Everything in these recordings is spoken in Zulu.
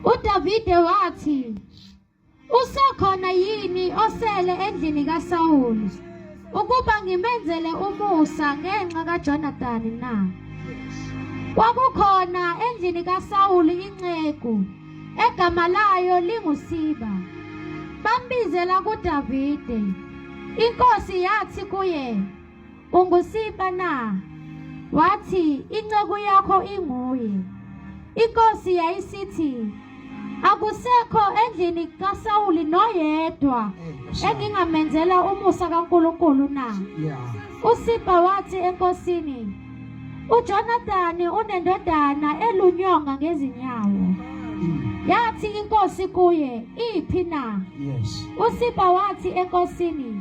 UDavide wathi, Usekhona yini osele endlini kaSawulu ukuba ngimenzele umusa ngenxa kaJonathani na? Kwakukhona endlini kaSawulu inceku egama layo linguSiba. Bambizela kuDavide. Inkosi yathi kuye, Ungusipa na? Wathi, Inceku yakho inguye. Inkosi yayisithi, Akusekho endlini kaSawuli noyedwa eh, engingamenzela umusa kaNkulunkulu na? USipa wathi enkosini, UJonathan unendodana elunyonga ngezinyawo. Mm. Yathi inkosi kuye, Iphi na? USipa wathi enkosini,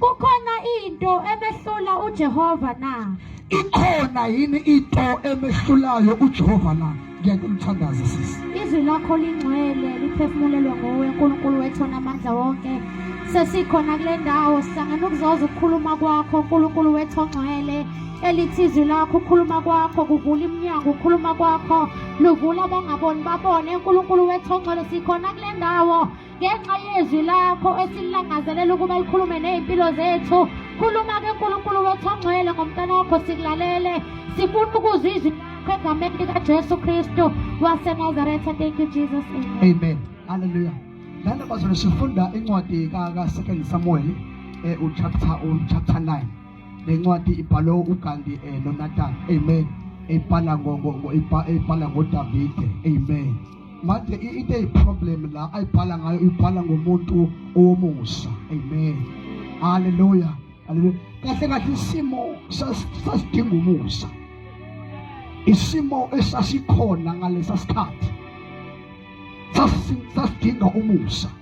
Kukhona into emehlula uJehova na? Ikhona yini into emehlulayo uJehova na? Ngiyakumthandaza sisi. Izwi lakho lingcwele liphefumulelwe nguwe uNkulunkulu wethu onamandla wonke. Sesikhona kule ndawo sihlangene ukuzoza ukukhuluma kwakho uNkulunkulu wethu ongcwele elithi izwi lakho ukhuluma kwakho kuvula iminyango ukhuluma kwakho luvula abangaboni babone uNkulunkulu wethu ongcwele sikhona kule ndawo ngenxa yezwi lakho esilangazelela ukuba likhulume ney'mpilo zethu khuluma-ke nkulunkulu wethu ongcwele ngomntana wakho sikulalele sifuna ukuzwa izwi lakho egameni likajesu kristu wasenazaretha thank you jesus amen halleluya lana mazolo sifunda incwadi kasecond samuel eh, uchapter um, chapter 9 le ncwadi ibhalwe ugandi um eh, nonatan amen ibhala ibhala ngodavide amen manje into eyiproblem la ayibhala ngayo ibhala ngomuntu owomusa amen haleluya haleluya kahle kahle isimo sasidinga umusa isimo esasikhona ngalesa sikhathi sasidinga umusa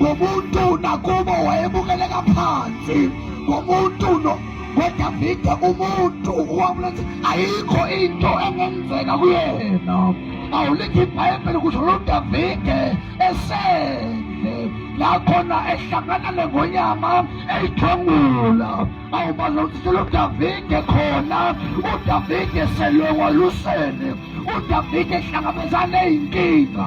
ngomuntu nakubo wayebukeleka phansi ngomuntu kodwa vide umuntu wakulethi ayikho into engenzeka kuyena awulithi ibhayibheli kusho lo davide esele la khona ehlangana nengonyama eyithwengula awubazi ukuthi selo davide khona udavide selwe walusele udavide ehlangabezane eyinkinga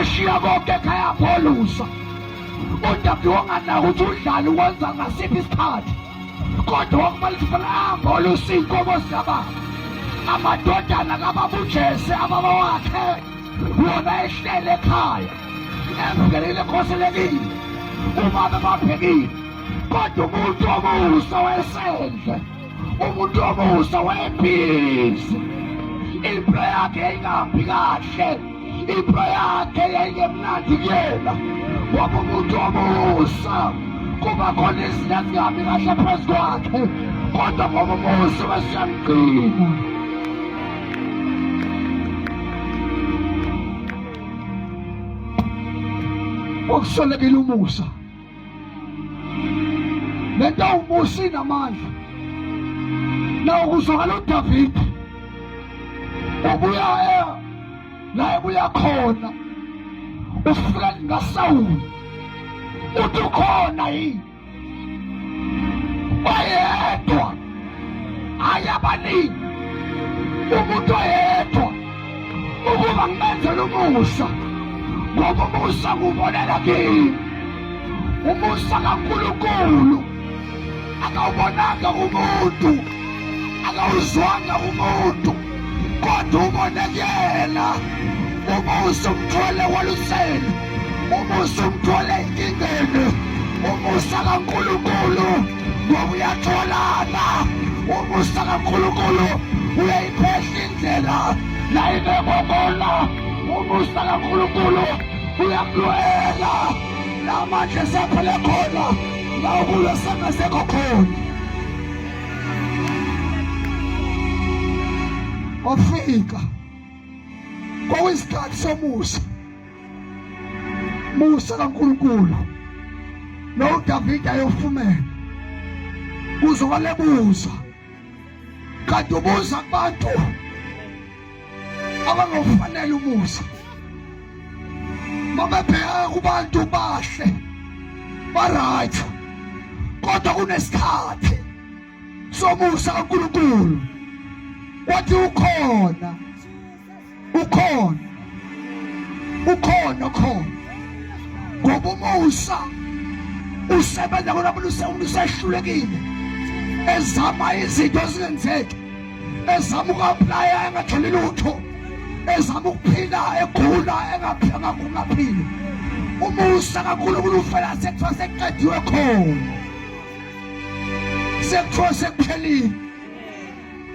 eshiya konke ekhaya pholusa udabhi wonganaka ukuthi udlali wenza ngasiphi isikhathi kodwa wakumele ukuthi fanele ahambe olusa iy'nkomo zikababa amadodana kababujese ababa wakhe wona ehlele ekhaya emngenile ekhoselekile uma bebabhekile kodwa umuntu omusa wesendle umuntu omusa webhizi impilo yakhe yayingahambi kahle impilo yakhe yayingemnandi kuyena ngoba umuntu omusa kuba khona izinto ezingahambi kahle phezu kwakhe kodwa ngoba umusa wesiyamgcina okusolekile umusa le nto umusa inamandla nawo kuzwakala udavide ubuya e, la ebuya khona ufika ngasawula uthi ukhona yini oyedwa ayabaningi umuntu oyedwa ukuba ngibenzele umusa ngoba umusa kubonela kimi umusa kaNkulunkulu akawubonanga umuntu akawuzwanga umuntu kodwa ubone kuyena umusa umthole waluseni umusa umthole enkingeni umusa kaNkulunkulu ngoba uyatholana umusa kaNkulunkulu uyayiphehla indlela la ibekwa kona umusa kaNkulunkulu uyamlwela la manje sephele khona la ukulo sengasekho khona wafika kwakuyisikhathi somusa musa kaNkulunkulu lo Davide ayofumela kuze walebuza kanti ubuza kubantu abangofanele umusa mabebheka kubantu bahle baright kodwa kunesikhathi somusa kaNkulunkulu wathi ukhona ukhona ukhona khona ngoba umusa usebenza kona umuntu usehlulekile ezama izinto ezingenzeki ezama uku-aplaya engatholi lutho ezama ukuphila egula engaphili umusa kakhulunkulu ufela sekuthiwa sekuqediwe khona sekuthiwa sekuphelile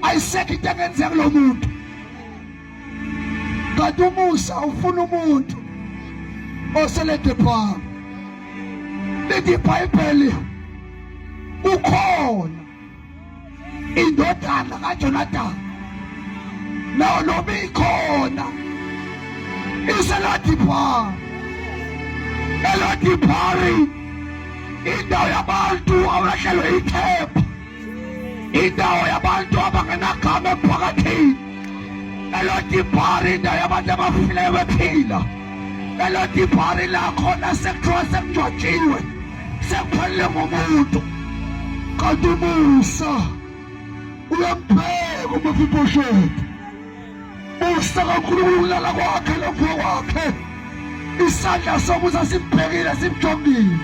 ayisekho into engenzeka kulo muntu kanti umusa ufuna umuntu oseledephaa lithi ibhayibheli ukhona indodana kajonatani nawo noma ikhona iseladiphaa eladiphari indawo yabantu abahlelwe ikhepha indawo yabantu abangenagama emphakathini elodibhari indawo yabantu abafileyo bephila elodibhari lakhona sekuthiwa sekujwajiwe sekuphelele ngomuntu kanti umusa uyambheka uma fibosheti Busa kakhulu ukulala kwakhe lokho kwakhe. Isandla sokuza simbhekile simjongile.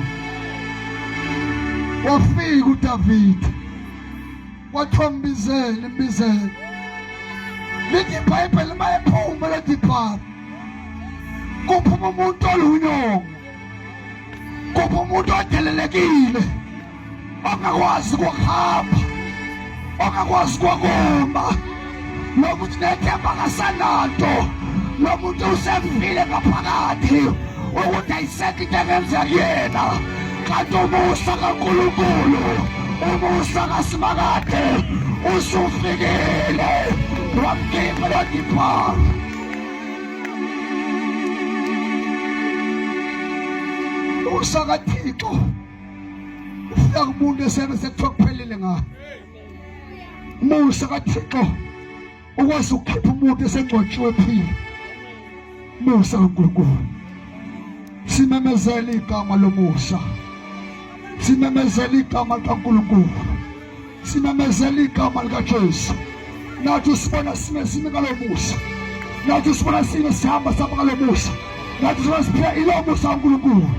Wafika uDavid. Wathombizela imbizela. Lithi iBhayibheli mayephuma lethi phara. Kuphuma umuntu olunyongo. Kuphuma umuntu odelelekile. ongakwazi ukuhamba ongakwazi ukuma lokuthi nethemba kasananto lomuntu usefile ngaphakathi ukuthi ayisekho into engenzeka kuyena kanti umusa kankulunkulu umusa kasimakade usufikile wamkhipha lodiphala usakathixo ufika kumuntu esebe sekuthiwa kuphelile ngayo musa kathixo ukwazi ukukhipha umuntu esengcwatshiwe phile musa kankulunkulu simemezela igama lomusa simemezela igama likankulunkulu Simemezela igama likaJesu. Nathi usibona sime sime ngalo musa. Nathi usibona sime sihamba sihamba ngalo musa. Nathi usibona siphila ilo musa kaNkulunkulu.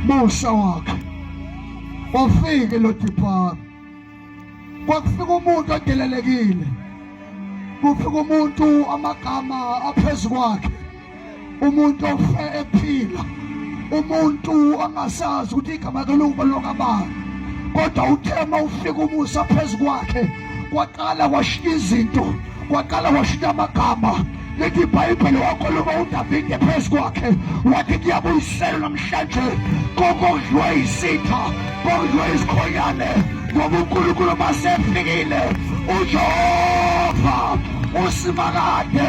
Musa wakhe. Wafike lo Dipara. Kwakufika umuntu odelelekile. Kufika umuntu amagama aphezulu kwakhe. umuntu ofe ephila umuntu angasazi ukuthi igama kalokuba lokabani kodwa uthema ufika umusa phezu kwakhe kwaqala washiya izinto kwaqala washiya amagama lithi ibhayibheli wakhuluma udavide phezu kwakhe wathi kuyabuyiselwa namhlanje kokondliwa isitha kondliwa izikhonyane ngoba unkulunkulu masefikile ujehova usimakade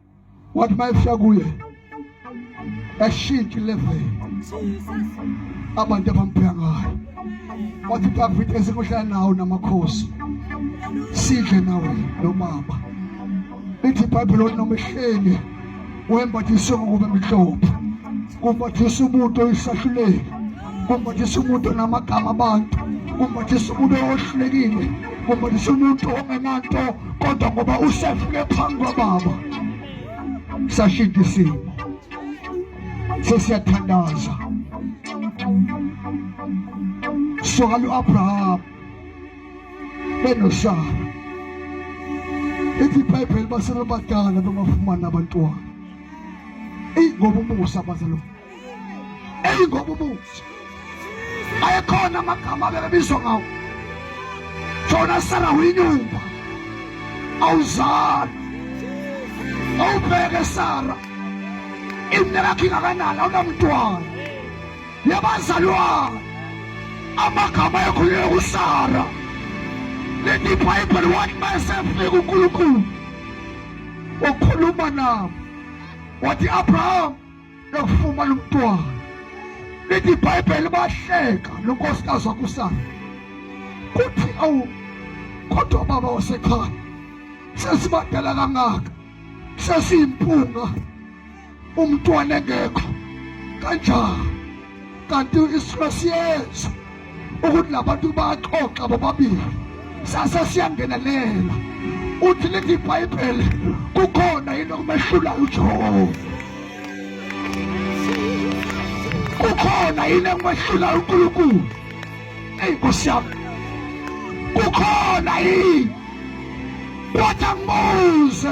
wathi mayefika kuye ashintshe level abantu abambheka ngayo wathi David esikuhlala nawo namakhosi sidle nawe nomama lithi ibhayibhiloni noma ehlenge wembathise ngokuba emhlophe kumbathisa umuntu oyisahluleli kumbathisa umuntu onamagama abantu kumbathisa umuntu ohlulekile kumbathisa umuntu ongenanto kodwa ngoba usefike phambi kwababa sashintsha isimo sesiyathandaza soka lu-abraham benosara ithi ibhayibheli basebebadala bengafumani abantwana eyi ngoba umusa bazalo eyingoba ubuthi ayekhona amagama abebebizwa ngawo jona sara uyinyumba awuzali awubheke sara imine lakho ingakanani awunamntwana yabazalwana amagama ekhululeka usara leti ibhayibheli wathi mayesefika unkulunkulu wakhuluma nabo wathi abraham lokufumana umntwana lithi ibhayibheli bahleka nonkosikazi wakusana kuthi awu kodwa baba wasekhaya sesibadala kangaka sesiyimpunga umntwana engekho kanjani kanti isimo siyenza ukuthi labantu baxoxa bobabili sase siyangenelela uthi lithi ibhayibheli kukhona yini okumehlulayo ujehova kukhona yini engimehlulayo unkulunkulu eyi nkosi yami kukhona yini wathi angibuze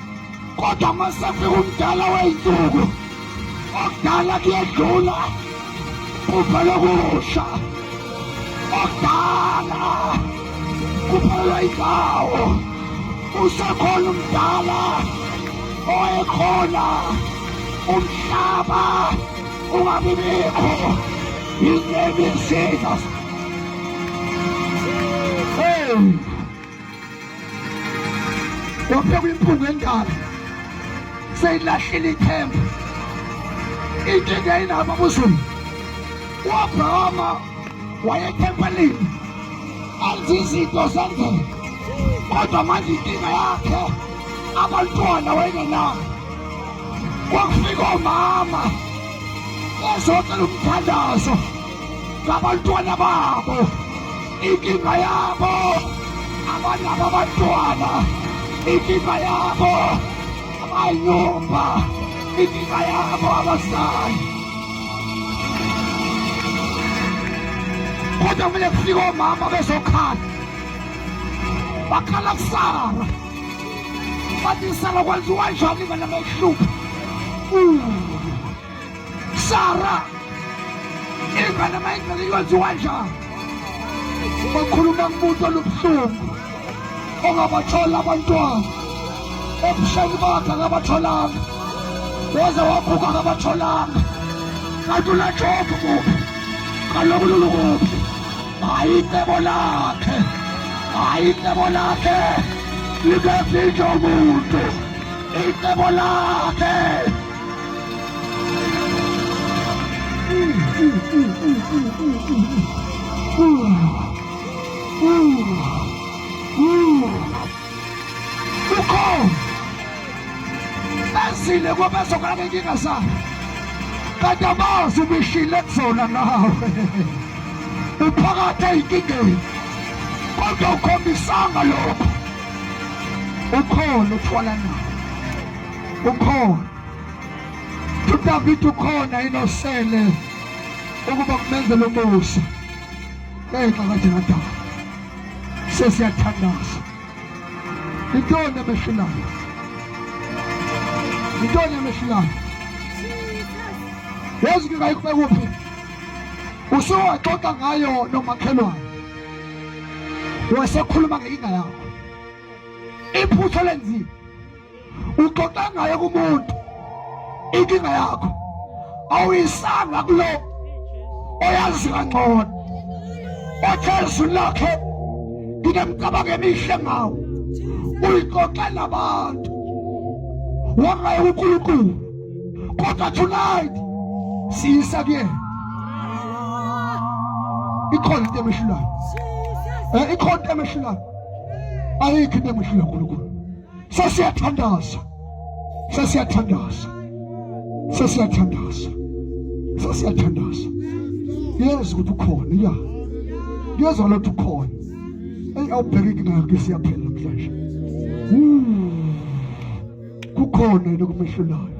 kodwa uma sefika umdala wey'nsuku okudala kuyedlula kuphela okusha okudala kuphelelwa indawo usekhona umdala owayekhona umhlaba ungabi bikho in the name of Jesus. Hey! waphekwa impunga endala seyilahlile ithemba inkinga yinabo abuzulu uabrahama wayethempelini anzi izinto zendlela kodwa manje inkinga yakhe abantwana wayengenabo kwakufika omama ezocela umthandazo ngabantwana babo inkinga yabo abanabo abantwana inkinga yabo abayumba inkinga yabo abazali kodwa kumele kufike omama bezokhala bakhala kusara bathi isara kwenziwa njani vana mayihlupha Sara ingane mayingcele iyoziwa njani bakhuluma kumuntu olubuhlungu ongabathola abantwana ebusheni bakhe akabatholanga waze waguga akabatholanga kanti ulatshophu kuphi kaloku lulu kuphi hayi icebo lakhe hayi icebo lakhe libezinje umuntu icebo lakhe ukhona bazile kwabazokala benkinga zabo kanti abazi ubishile kuzona nawe uphakathi eyinkingeni kodwa ukhombisanga lokho ukhona uthwala nawo ukhona udavide ukhona yini osele ukuba kumenzele umusa ngenxa kajenadala sesiyathandaza yintoni emehlulayo yintoni emehlulayo yazi ngingayikube kuphi usuwaxoxa ngayo nomakhelwane wasekhuluma ngenkinga yakho iphutha lenzile uxoxa ngaye kumuntu inkinga yakho awuyisanga kulo oyazi kangcono othe izulu lakhe nginemicabango emihle ngawo uyixoxa nabantu wangaye unkulunkulu kodwa tonight siyisa kuyena ikhona into emehlulayo eh, ikhona into emehlulayo ayikho into emehlula nkulunkulu sesiyathandaza sesiyathandaza sesiyathandaza sesiyathandaza yeza ukuthi ukhona ya yeza lothi ukhona eyi awubhekeki nayo ke siyaphela namhlanje kukhona yena okumehlulayo